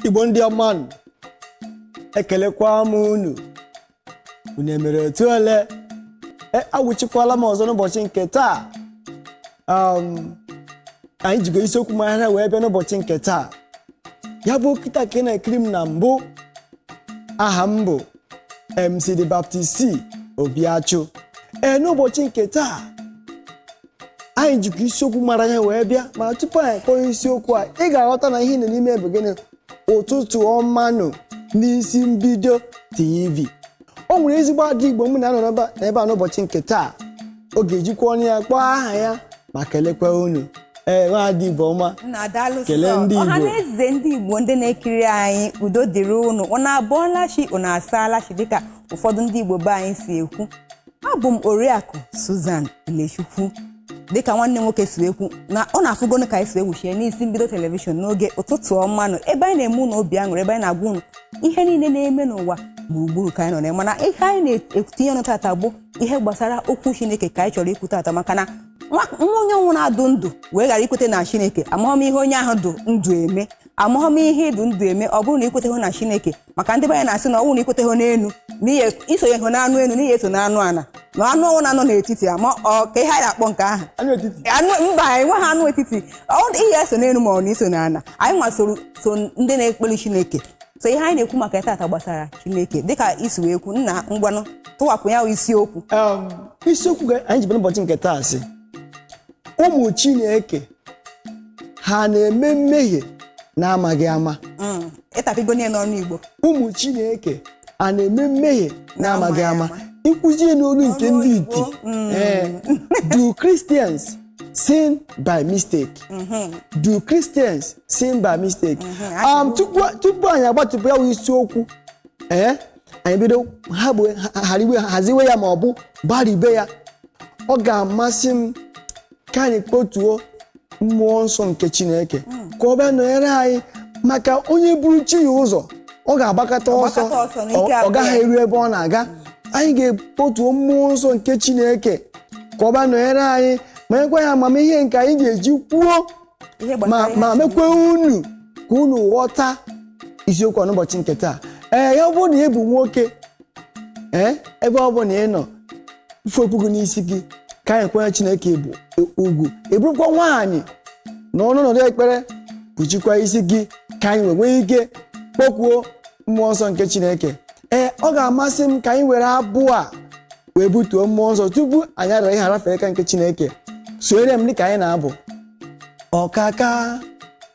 igbo ndị ọma nụ ekelekwa m unu unu emere otu ole e awụchikwala m ọzọ n'ụbọchị nke taa um, anyị jigo isiokwu maghara wee bịa n'ụbọchị nke taa ya bụ kịta ka ị na-ekiri m na mbụ aha m bụ MC The Baptist Obiachụ ee n'ụbọchị nke taa anyị jikwa isiokwu mara ya wee bịa ma tupu anyị kpọọ isiokwu a ị ga-aghọta na ihe nọ n'ime bụ gịnị ụtụtụ ọma nụ n'isi mbido tv o nwere ezigbo ada igbo m na-anọ n'ebe a- n'ebe a n'ụbọchị nke taa ọ ga-ejikwa ọnụ ya kpọọ aha ya ma kelekwa unu ee nwa ada igbo ọma Unu adaalụ sọ. Kelee ndị Igbo. ọha na eze ndị igbo ndị na-ekiri anyị udo dịrị unu unu abọọla chi unu asaala chi dịka ụfọdụ ndị igbo be anyị si ekwu abụ m oriakụ Susan Ilechukwu dịka nwanne nwoke si ekwu unu afụgonu ka anyị si awụchie n'isi mbido telivishọn n'oge ụtụtụ ọma nụ ebe anyị na-eme unu obi aṅụrị ebe anyị na-agwa unu ihe niile na-eme n'ụwa gburugburu ka anyị nọ na mana ihe anyị na-etinye ọnụ tata bụ ihe gbasara okwu Chineke ka anyị chọrọ ikwu tata maka na nwa onye ọ bụna dụ ndụ wee ghara ikweta na Chineke amaghị m ihe onye ahụ dụ ndụ eme amaghị m ihe ị dụ ndụ eme ọ bụrụ na i kweteghị na Chineke maka ndị be anyị na-asị na ọ bụrụ na i kweteghị n'elu na ihe i sonyehụ n'anụ elu na ị ya-eso n'anụ ala na anụ ọ bụna nọ n'etiti ya ma ọ ka ihe a na-akpọ nke ahụ Anụ etiti. anụ mba anyị enweghị anụ etiti ọ dị ị ya-eso n'elu ma ọ na i so n'ala anyị nwa soro so ndị na-ekpere chineke so ihe anyị na-ekwu maka ya tata gbasara chineke dịka i si wee kwuo nna ngwanụ tụwapụ ya bụ isiokwu Um, isiokwu ga- anyị ji bịa n'ụbọchị nke taa sị ụmụ chineke ha na-eme mmehie na-amaghị ama Mm, ị tapịgo niile n'olu igbo ụmụ chineke a na-eme mmehie na-amaghị ama i kwuzie n'olu nke Ọnụ ndị oyibo. iti Eh, do christians sin by mistake do christians sin by mistake Um, tupu tupu anyị agbatịpụ ya wụ isiokwu ee anyị bido ha bụ ha- hariwe haziwe ya ma ọ bụ gbarịbe ya ọ ga-amasị m ka anyị kpọtuo mmụọ nsọ nke chineke ka ọ bịa nọnyere anyị maka onye buru chi ya ụzọ ọ ga-agbakata ọsọ Ọ gbakata ọsọ n'ike ọ- ọ abụọ. gaghị eru ebe ọ na-aga anyị ga-akpọtuo mmụọ nsọ nke chineke ka ọ bịa nọnyere anyị ma nyekwa anyị amamihe nke anyị ga-eji kwuo ma mekwa unu ka unu ghọta isiokwu a n'ụbọchị nke taa ee ya bụrụ na ị bụ nwoke ee ebe ọ bụla ị nọ yifee okpu gị n'isi gị ka anyị kwanye chineke ugwu ị bụrụkwa nwaanyị nọ n'ọnọdụ ekpere kpuchikwa isi gị ka anyị wee nwee ike kpọkuo mmụọ nsọ nke chineke ee ọ ga-amasị m ka anyị were abụ a wee butuo mmụọ nsọ tupu anyị arara ihe a rafee n'aka nke chineke sonyere m dịka anyị na-abụ ọkaka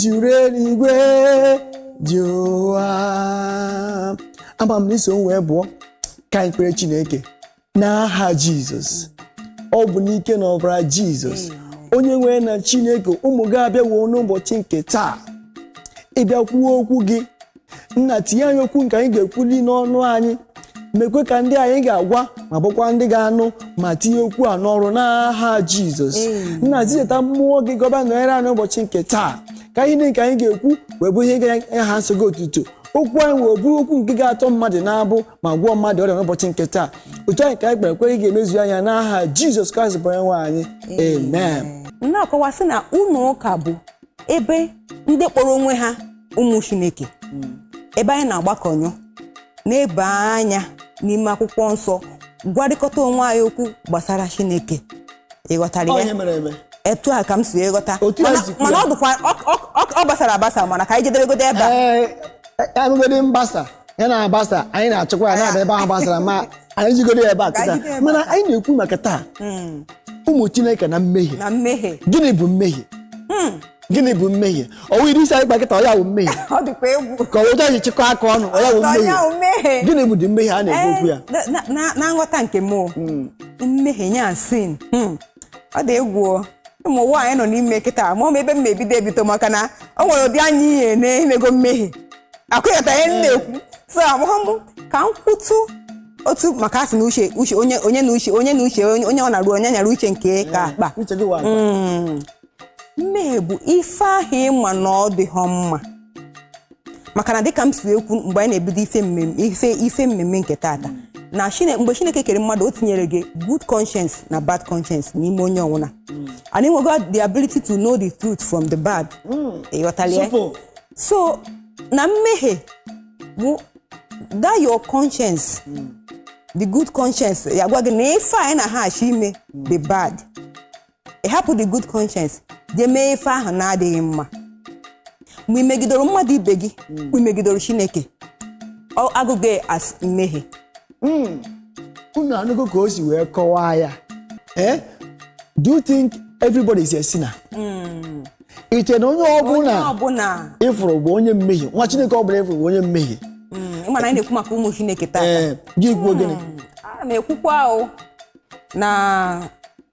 juru eluigwe juru ụwa ama m na i so m wee bụọ ka anyị kpere chineke n'aha jizọs ọ bụ n'ike na ọbara jizọs onye nwe anyị na chineke ụmụ gị abịawo n'ụbọchị nke taa ịbịa kwuo okwu gị nna tinye anyị okwu nke anyị ga-ekwuli n'ọnụ anyị mekwaa ka ndị anyị ga-agwa ma bụkwa ndị ga-anụ ma tinye okwu a n'ọrụ n'aha jizọs Amen. nna zidata mmụọ gị ka ọ bịa nọnyere anyị n'ụbọchị nke taa ka ihe niile nke anyị ga-ekwu wee bụ ihe ga-enye aha nsọ gị otuto okwu anyị wee bụrụ okwu nke ga-atọ mmadụ n'agbụ ma gwọọ mmadụ ọrịa n'ụbọchị nke taa otu a ka anyị kpere kwe ị ga-emezu ya n'aha jizọs kraịst bụ onye nwe anyị amen na-akọwa sị na ụlọ ụka bụ ebe ndị kpọrọ onwe ha ụmụ chineke ebe anyị na-agbakọ ọnụ na-eleba anya n'ime akwụkwọ nsọ gwarịkọta onwe anyị okwu gbasara chineke ị ghọtara ya onye mere eme etu a ka m si wee ghọta Otu a Mana- si kwuo. mana ọ dịkwa ọ- ọ- ọ- ọ gbasara agbasa mana ka anyị jidegodo ebe a ee anụgodị mgbasa ya na-agbasa anyị na-achịkwa ya na-abịa ebe ahụ gbasara ma anyị jigodo ya ebe a Ka kịta anyị jide ya ebe mana a. anyị na-ekwu maka taa Mm. ụmụ chineke na mmehie na mmehie gịnị bụ mmehie gịnị bụ mmehie ọ wụ ụdịrị isi anyị kpa kịta ọ ya wụ mmehie ọ dịkwa egwu ka ọ wụ anyị chịkọ aka ọnụ ọ ya wụ Ọ ya mmehie wụ mmehie. gịnị bụdị mmehie a na-ekwu okwu ya Eh, na- na- na- na nghọta nke m o, mmehie nya sin Hmm. ọ dị egwu o. ụmụ ụwa anyị nọ n'ime kịta amaghọ m ebe m ga-ebido ebido maka na o nwere ụdị anya ihe na-emego mmehie a ga-aghọta ihe m na-ekwu so amaghọ m ka m kwutu otu maka a sị na uche uche onye onye na uche onye na uche onye onye ọ na-arụ onye nyara uche nke ya ka akpa uche gị wụ akpa. mmehie bụ ife ahụ ị ma na ọ dịghọ mma maka na dịka m si wee kwu mgbe anyị na-ebido ife mmemme ife ife mmemme nke tata na Chine- mgbe chineke kere mmadụ o tinyere gị good conscience na bad conscience n'ime onye ọwụna and e nwego the ability to know the truth from the bad ị ghọtala ya Supo. so na mmehie bụ that your conscience the good conscience ya gwa gị na ife a ị na-achọ ime dị bad ị hapụ the good conscience jee mee ife ahụ na-adịghị mma mgbe i megidoro mmadụ ibe gị mgbe i megidoro chineke a gụọ ya as mmehie unu anụgo ka o si wee kọwaa ya eh? do you think everybody is a sinner i che na onye onye ọbụla ọbụla ị fụrụ bụ onye mmehie nwa chineke ọbụla ị fụrụ bụ onye mmehie Mm, ị ma na anyị na-ekwu maka ụmụ chineke taa ee gị kwuo gịnị a na-ekwukwa o na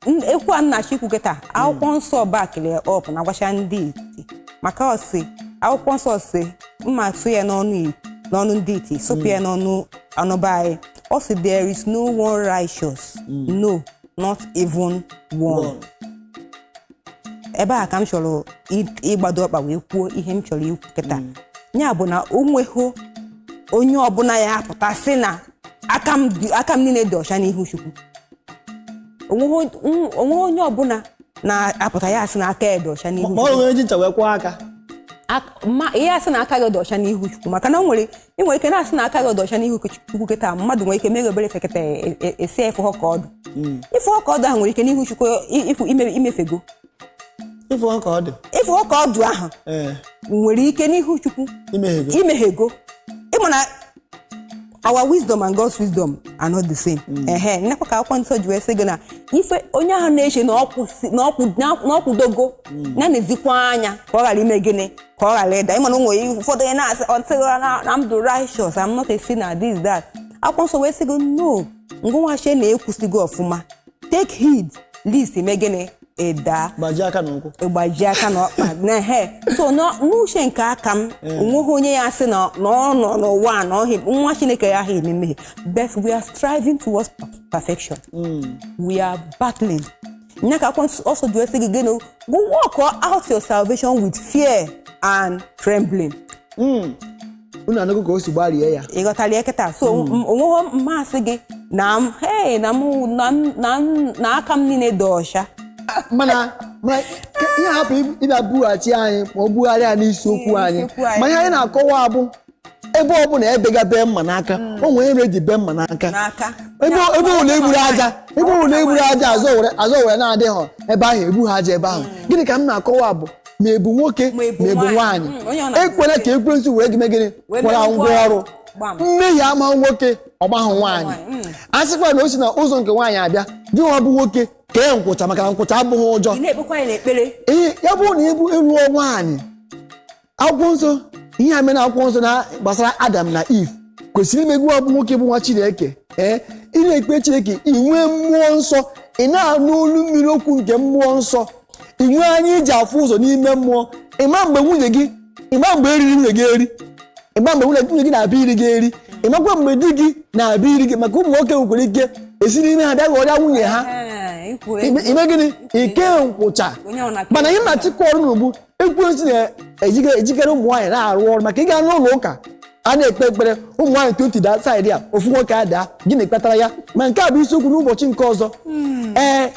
n- okwu a nnachi kwu kịta akwụkwọ nsọ backili up na-agwacha ndị iti maka ọ sị akwụkwọ nsọ si m ga-asụ ya n'ọnụ i- n'ọnụ ndị iti sụpụ ya n'ọnụ ana be anyị ọ sị there is no one righteous no not even one One. ebe a ka m chọrọ ị- ịgbado ọkpa wee kwuo ihe m chọrọ ikwu kịta ya bụ na o nweghị onye ọbụla ya apụta sị na aka m dị- aka m niile dị ọcha n'ihu chukwu onweghị on- onweghị onye ọbụla na-apụta ya asị na aka ya dị ọcha n'ihu ma ọ chukwu nwere onye ji ncha wee kwụọ aka Ak- ma ihe asị na aka gị dị ọcha n'ihu chukwu maka na o nwere ị nwere ike na-asị na aka gị dị ọcha n'ihu chukwu kịta mmadụ nwere ike mere obere ife kịta esi efe ha ka ọdụ ife ọka ọdụ ahụ nwere ike n'ihu chukwu ịpụ imefego ịfụ ọka ọdụ ịfụ ọka ọdụ ahụ nwere ike n'ihu chukwu imeghego ị ma na our wisdom and God's wisdom are not the same. Mm. ehe nyakwa ka akwụkwọ nsọ ji wee sị gị na ife onye ahụ na-eche na ọ kwụdogo mm. ya nezikwa anya ka ọ ghara ime gịnị ka ọ ghara ịda ị ma na o nwee ụfọdụ onye na-asị ọtịghịra na m dị righteous I'm not a sinner this that akwụkwọ nsọ wee sị gị no ngị nwa chee na ị kwụsigo ọfụma take heed lest i mee gịnị ị daa gbajie aka na ụkwụ ị gbajie aka na ọkpa na he so na- n'uche nke aka m onweghị onye ya sị na na ọ nọ n'ụwa a na ọ hị- nwa chineke ya ha eme mmehie but we are striving towards perfection we are battling nya ka akwụkwọ nsọ ji wee sị gị gịnị go work out your salvation with fear and trembling unu anụgo ka o si gbarie ya ị ghọtara ya kịta so onweghị mmasị gị na m hey na mụ na m- na m- na aka m niile dị ọcha mana mana ka ihe hapụ ịbịa bughachi anyị ma ọ bugharịa n'isiokwu anyị N'isiokwu anyị. ma ihe anyị na-akọwa abụ ebe ọ bụla ebega bee mma n'aka o nwere ihe eji bee mma n'aka n'aka ebe Ya, ebe ụlọ egburu aja ebe ụlọ egburu aja azọ were azọ were na-adịghọ ebe ahụ egbu ha aja ebe ahụ gịnị ka m na-akọwa bụ ma ị bụ nwoke Ma ị bụ ma ị bụ nwaanyị. nwaanyị Mm, onye ọ na- ekwela ka ekwensu were gị mee gịnị Wee kwara mee ngwa ngwa ọrụ ọrụ. Gbam. mmehie amaghị nwoke ọ gbaghị nwaanyị Nwaanyị, mm. a sịkwa na o si na ụzọ nke nwaanyị abịa gị nwa bụ nwoke kee nkwụcha maka na nkwụcha abụghị ụjọ ị na-ekpekwa ya n'ekpere ihe ya bụrụ na ị bụ ị lụọ nwaanyị akwụkwọ nsọ ihe a mere akwụkwọ nsọ na gbasara adam na eve kwesịrị ime gị bụ nwoke bụ nwa chineke ee ị na-ekpe chineke inwe mmụọ nsọ ị na-anụ olu mmiri okwu nke mmụọ nsọ inwe anya iji afụ ụzọ n'ime mmụọ ịma mgbe nwunye gị ịma mgbe e riri nwunye gị eri ịma mgbe nwunye nwunye gị na-abịa iri gị eri ịmakwa mgbe di gị na-abịa iri gị maka ụmụ nwoke nwekwara ike esi n'ime ha bịa ghọrịa nwunye ha Ee, ikwu ime ime gịnị ike nkwụcha Onye ọ na-akpa mana ihe na-achịkwa ọrụ n'ugbu ekwensu na-ejikarị ụmụ nwaanyị na-arụ ọrụ maka ị gaa n'ụlọ ụka a na-ekpe ekpere ụmụ nwaanyị twenty daa saịdị a ofu nwoke adaa gịnị kpatara ya ma nke a bụ isiokwu n'ụbọchị nke ọzọ ee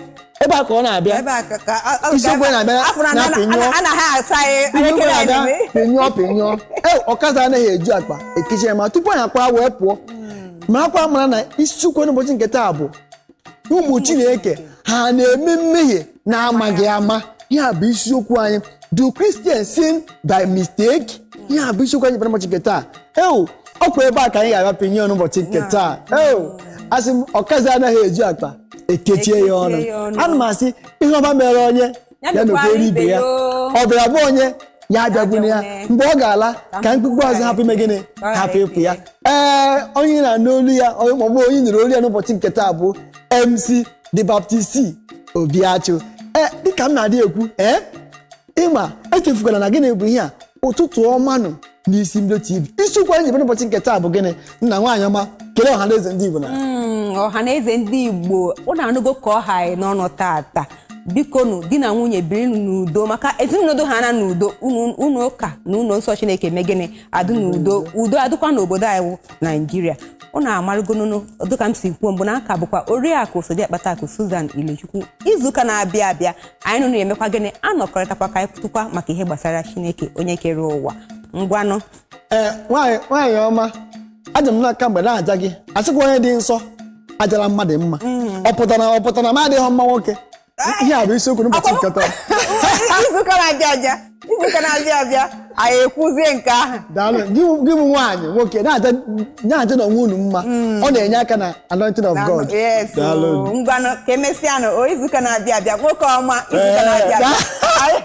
ebe a ka ọ na-abịa ebe a ka ka ọ- ọ- Isiokwu na-abịa afọ na- na- na-apịnyụ. na- anaghị asa anyị Ihe anyị ekele anyị na-aga, na-eme. pịnyụọ pịnyụọ ee ọkaza anaghị eju akpa ekechi ya ma tupu anyị akwa wee pụọ makwa mara na isiokwu n'ụbọchị nke taa bụ ụmụ chineke ha na-eme mmehie na-amaghị ama ihe a bụ isiokwu anyị do christian sin by mistake ihe a bụ isiokwu anyị bara ụbọchị nke taa eo ọkwa ebe a ka anyị ga-agapụ ihe ọnụ ụbọchị nke taa eo asị m ọkazi anaghị eju akpa ekechie ya ọnụ Ekechie ya ọnụ. ana m asị ihe ọma mere onye Ya ya mekwara mekwere ibe ibe ya ya o. ọ bịara be onye ya abịagbuna ya abịagbuna. mgbe ọ ga-ala Ka ka mkpukpu azụ hapụ ime gịnị Ka ọ hapụ ghara ịpụ ya ịpụ ee onye ị na-anụ olu ya onye maọbụ onye ị nụrụ olu ya n'ụbọchị nke taa bụ MC The Baptist Obiachu ee dịka m na-adị ekwu ee ịma echefukwala na gịnị bụ ihe a ụtụtụ ọma nụ n'isi mbido tv isiokwu anyị jebere ụbọchị nke taa bụ gịnị nna nwaanyị ọma kelee ọha na eze ndị igbo na Mm, ọha na eze ndị igbo ụnụ anụgo ka ọ ha anyị n'ọnụ tata biko nụ di na nwunye birinụ n'udo maka ezinụlọ dụ ha na n'udo ụlọ- ụlọ ụka na ụlọ nsọ chineke mee gịnị adụ n'udo udo adịkwa n'obodo anyị wụ naijiria ụnụ amarụgonụnụ dịka m si kwuo mbụ na aka bụkwa oriakụ so di akpata akụ Susan Ilechukwu izuụka na-abịa abịa anyị na ụnụ emekwa gịnị anọkọrịtakwa ka anyị kwutụkwa maka ihe gbasara chineke onye kere ụwa ngwanụ ee nwaanyị nwaanyị ọma aja m n'aka mgbe m na-aja gị asịkwa onye dị nsọ ajala mmadụ mma ọ pụtara ọ pụtara na m adịghị mma nwoke ihe a bụ isiokwu n'ụbọchị nke taa izu ụka na-abịa abịa izu ụka na-abịa abịa anyị ekwuzie nke ahụ daalụ gị gị bụ nwaanyị nwoke na-aja na-ajanụ onwe unu mma ọ na-enye aka na anointing of god yes Daalụ. oo, ngwanụ ka emesịanụ o izu ụka na-abịa abịa nwoke ọma izu ụka Ee, na-abịa abịa da- Anyị-